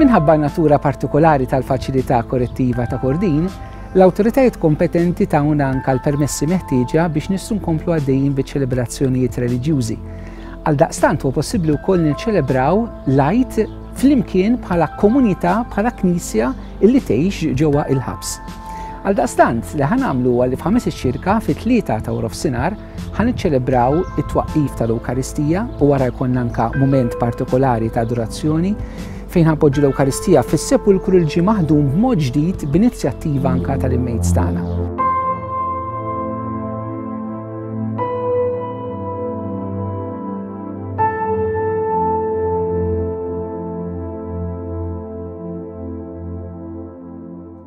Minħabba natura partikolari tal-faċilità korrettiva ta' Kordin, l-awtoritajiet kompetenti tawna anka l-permessi meħtieġa biex nissu nkomplu għaddejjin biċ-ċelebrazzjonijiet reliġjużi. Għal daqstant huwa possibbli wkoll niċċelebraw lajt flimkien bħala komunità bħala knisja illi tgħix ġewwa il-ħabs. Għaldaqstant, li ħan għamlu għalli f'ħames iċ-ċirka fi tlieta ta' wrof sinar ħan iċċelebraw it-twaqqif tal-Ewkaristija u wara jkun anka mument partikolari ta' adorazzjoni fejn ħanpoġġu l-Ewkaristija fis-sepulkru l-ġi maħdum b'mod ġdid b'inizjattiva anka tal-immejt tagħna.